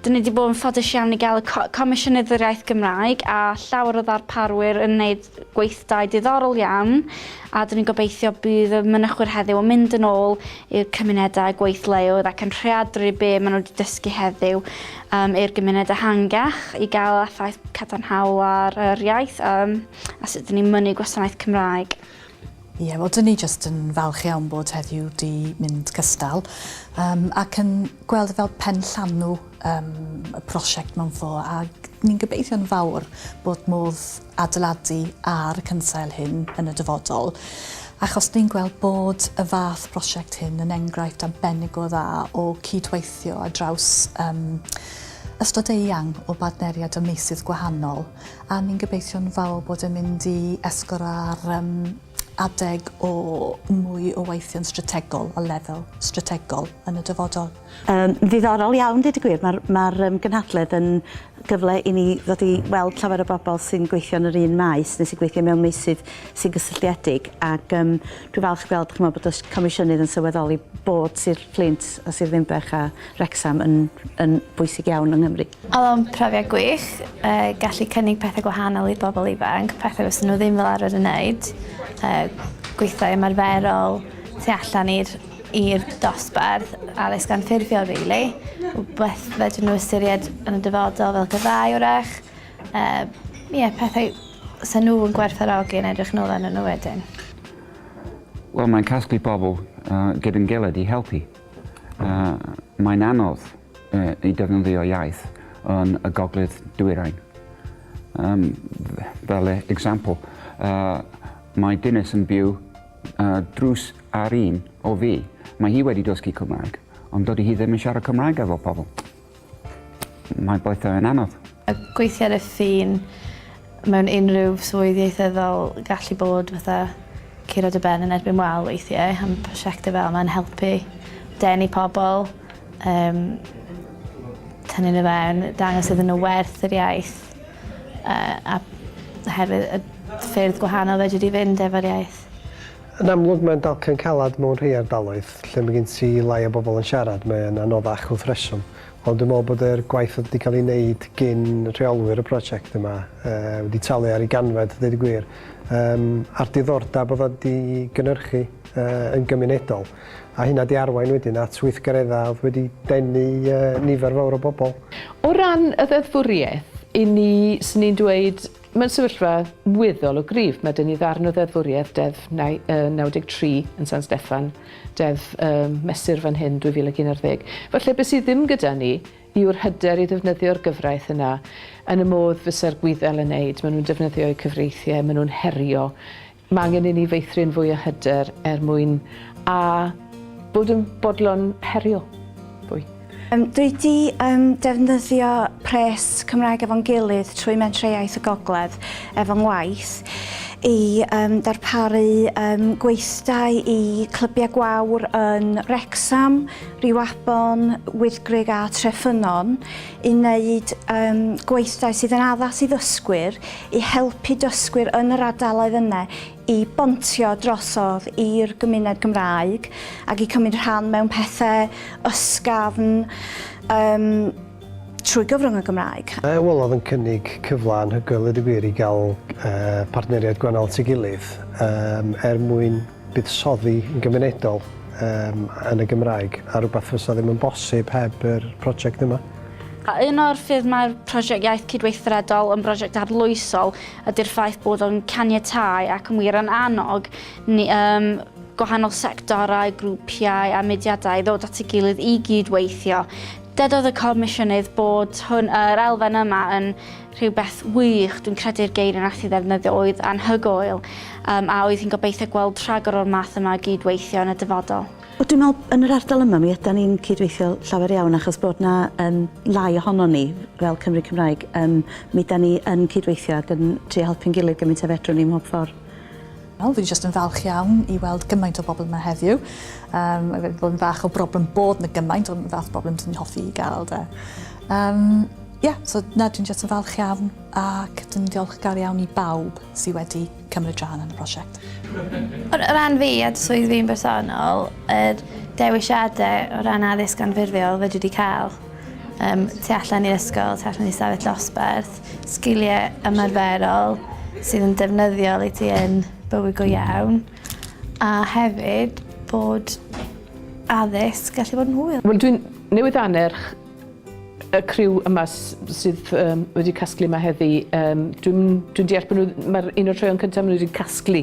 Dyn ni wedi bod yn ffodus iawn i gael y co Comisiynydd yr Iaith Gymraeg a llawer o ddarparwyr yn wneud gweithdai diddorol iawn a dyn ni'n gobeithio bydd y mynychwyr heddiw yn mynd yn ôl i'r cymunedau a gweithleoedd ac yn rheadru be maen nhw wedi dysgu heddiw um, i'r gymuned ehangach i gael effaith cadarnhaol ar yr iaith um, a sut dyn ni'n mynnu gwasanaeth Cymraeg. Ie, wel, dyn ni jyst yn falch iawn bod heddiw 'di mynd cystal um, ac yn gweld e fel pen llanw um, y prosiect mewn ffo, ac ni'n gobeithio'n fawr bod modd adeiladu ar y cynsail hyn yn y dyfodol achos ni'n gweld bod y fath prosiect hyn yn enghraifft arbennig o dda o cydweithio a draws um, ystod eang o badneriad ym meysydd gwahanol. A ni'n gobeithio'n fawr bod e'n mynd i esgor ar um, adeg o mwy o weithio'n strategol, o lefel strategol yn y dyfodol. Um, ddiddorol iawn, dweud y gwir. Mae'r ma um, gynhadledd yn gyfle i ni ddod i weld llawer o bobl sy'n gweithio yn yr un maes neu sy'n gweithio mewn meysydd sy'n gysylltiedig ac um, dwi'n falch gweld chymod, bod y comisiynydd yn sylweddoli bod Sir Fflint a Sir Ddinbych a Wrecsam yn yn bwysig iawn yng Nghymru. Oedd o'n profiad gwych, yy gallu cynnig pethe gwahanol i bobl ifanc, pethe fysa nhw ddim fel arfer yn neud, yy gweithdai ymarferol tu allan i'r i'r dosbarth, addysg anffurfiol rili, wbeth fedrwn nhw ystyried yn y dyfodol fel gyrfaoedd 'w'rach, yy ie pethau 'sa nhw yn gwerthfawrogi yn edrych nôl arnyn nhw wedyn. Wel mae'n casglu pobl gyda'n gilydd i helpu. A mae'n anodd i defnyddio iaith yn y gogledd dwyrain. Um, fel e, example, uh, mae Dinas yn byw uh, drws ar un o fi. Mae hi wedi dysgu Cymraeg, ond dydy hi ddim yn siarad Cymraeg efo pobl. Mae'n boetho yn anodd. A gweithio ar y ffin mewn unrhyw swydd ieithyddol gallu bod fatha curo dy ben yn erbyn wal weithie a ma' prosiecte fel ma'n helpu denu pobol yym tynnu n'w fewn dangos iddyn n'w werth yr iaith yy a oherwydd y ffyrdd gwahanol fedri di fynd efo'r iaith. Yn amlwg mae'n dalcen calad mewn rhei ardaloedd, lle mae gen ti lai o bobl yn siarad, mae e'n anoddach wrth reswm. Ond dwi'n meddwl bod yr gwaith oedd wedi cael ei wneud gin rheolwyr y prosiect yma wedi talu ar ei ganfed, a deud y gwir, yym a'r diddordeb oedd o wedi gynhyrchu yn gymunedol, a hynna wedi arwain wedyn at weithgareddau oedd wedi denu nifer fawr o bobl. O ran y ddeddfwriaeth, 'yn ni, 'swn i'n dweud, Mae'n sefyllfa weddol o gryf. Mae 'da ni ddarn o ddeddfwriaeth, Deddf 93 yn San Steffan, Deddf um, Mesur fan hyn 2011. Falle beth sydd ddim gyda ni yw'r hyder i ddefnyddio'r gyfraith yna yn y modd fysa'r gwyddel yn neud. Maen nhw'n defnyddio'u cyfreithiau, maen nhw'n herio Mae angen i ni feithrin fwy o hyder er mwyn a bod yn bodlon herio fwy. Dwi 'di defnyddio pres Cymraeg efo'n gilydd trwy Mentrau-iaith y Gogledd efo ngwaith i darparu gweithdai i clybiau gwawr yn Wrecsam, Rhiwabon, Wyddgrug a Treffynnon i wneud um, gweithdai sydd yn addas i ddysgwyr i helpu dysgwyr yn yr ardaloedd yna i bontio drosodd i'r gymuned Gymraeg ac i cymryd rhan mewn pethau ysgafn um, trwy gyfrwng y Gymraeg. Mae Wel oedd yn cynnig cyfle anhygoel i dy gwir i gael uh, partneriaid gwannol at ei gilydd um, er mwyn buddsoddi yn gymunedol yym yn y Gymraeg a rhywbeth fysa ddim yn bosib heb yr prosiect yma. A un o'r ffyrdd mae'r prosiect Iaith Cydweithredol yn brosiect arloesol ydy'r ffaith bod o'n caniatáu ac yn wir yn annog ni um, gwahanol sectorau, grwpiau a mudiadau ddod at ei gilydd i gyd-weithio. Dedodd y Comisiynydd bod hwn, yr elfen yma yn Rhywbeth wych, dwi'n credu'r geir y nath hi ddefnyddio oedd 'anhygoel', yym a oedd hi'n gobeithio gweld rhagor o'r math yma o gyd-weithio yn y dyfodol. Wel dwi'n me'wl yn yr ardal yma mi ydan ni'n cyd-weithio llawer iawn achos bod 'na yym lai ohonon ni fel Cymry Cymraeg yym mi 'dan ni yn cyd-weithio ag yn trio helpu'n gilydd gymint a fedrwn ni ym mhob ffor. Wel, fi jyst yn falch iawn i weld gymaint o bobl yma heddiw. Um, mae wedi bod yn fach o broblem bod na gymaint, ond fath o broblem dwi'n hoffi i gael da. Um, yeah, so na, dwi'n jyst yn falch iawn ac dwi'n diolchgar iawn i bawb sydd wedi cymryd rhan yn y prosiect. O ran fi a swydd fi'n bersonol, yr er dewisiadau o ran addysg anffurfiol fe dwi wedi cael um, tu allan i'r ysgol, tu allan i stafell dosbarth, Sgiliau ymarferol sydd yn defnyddiol i ti yn bywyd go iawn, a hefyd bod addysg gallu bod yn hwyl. Wel dwi'n newydd annerch y criw yma sydd um, wedi casglu yma heddi. Um, dwi'n dwi deall bod nhw, mae'r un o'r troeon cyntaf maen nhw wedi casglu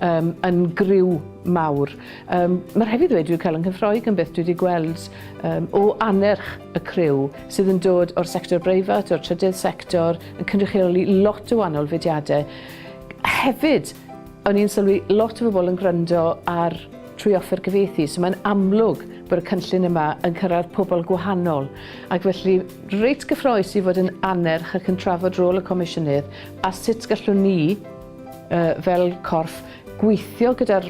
um, yn griw mawr. Um, mae'r hefyd wedi cael yng Nghyffroig yn beth dwi wedi gweld um, o annerch y criw. sydd yn dod o'r sector breifat, o'r trydydd sector, yn cynrychioli lot o wahanol fudiadau. Hefyd, o'n i'n sylwi lot o bobl yn gwrando ar trwy offer gyfeithi, so mae'n amlwg bod y cynllun yma yn cyrraedd pobl gwahanol. Ac felly, reit gyffroes i fod yn anerch ac yn trafod rôl y Comisiynydd a sut gallwn ni, uh, fel corff, gweithio gyda'r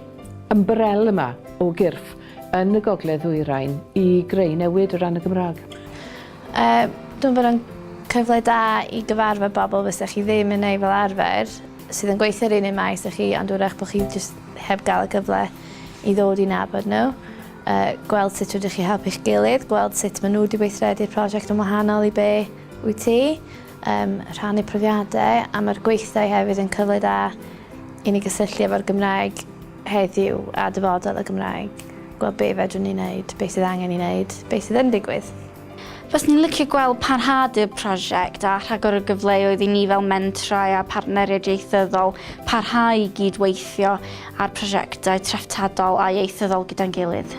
ymbrel yma o gyrff yn y Gogledd Ddwyrain i greu newid o ran y Gymraeg? Uh, dwi'n bod yn cyfle da i gyfarfod bobl fysa chi ddim yn ei fel arfer sydd yn gweithio'r un un maes â chi ond wrach bod chi just heb gael y gyfle i ddod i nabod nhw. Uh, gweld sut rydych chi helpu'ch gilydd, gweld sut maen nhw wedi weithredu'r prosiect yn wahanol i be wyt ti, um, rhannu profiadau a mae'r gweithdai hefyd yn cyfle da i ni gysylltu efo'r Gymraeg heddiw a dyfodol y Gymraeg, gweld be fedrwn ni wneud, be sydd angen i wneud, be sydd yn digwydd. Faswn i'n licio gweld parhad i'r prosiect a rhagor o gyfleoedd i ni fel mentrau a phartneriaid ieithyddol parhau i gyd-weithio ar prosiectau treftadol a ieithyddol gyda'n gilydd.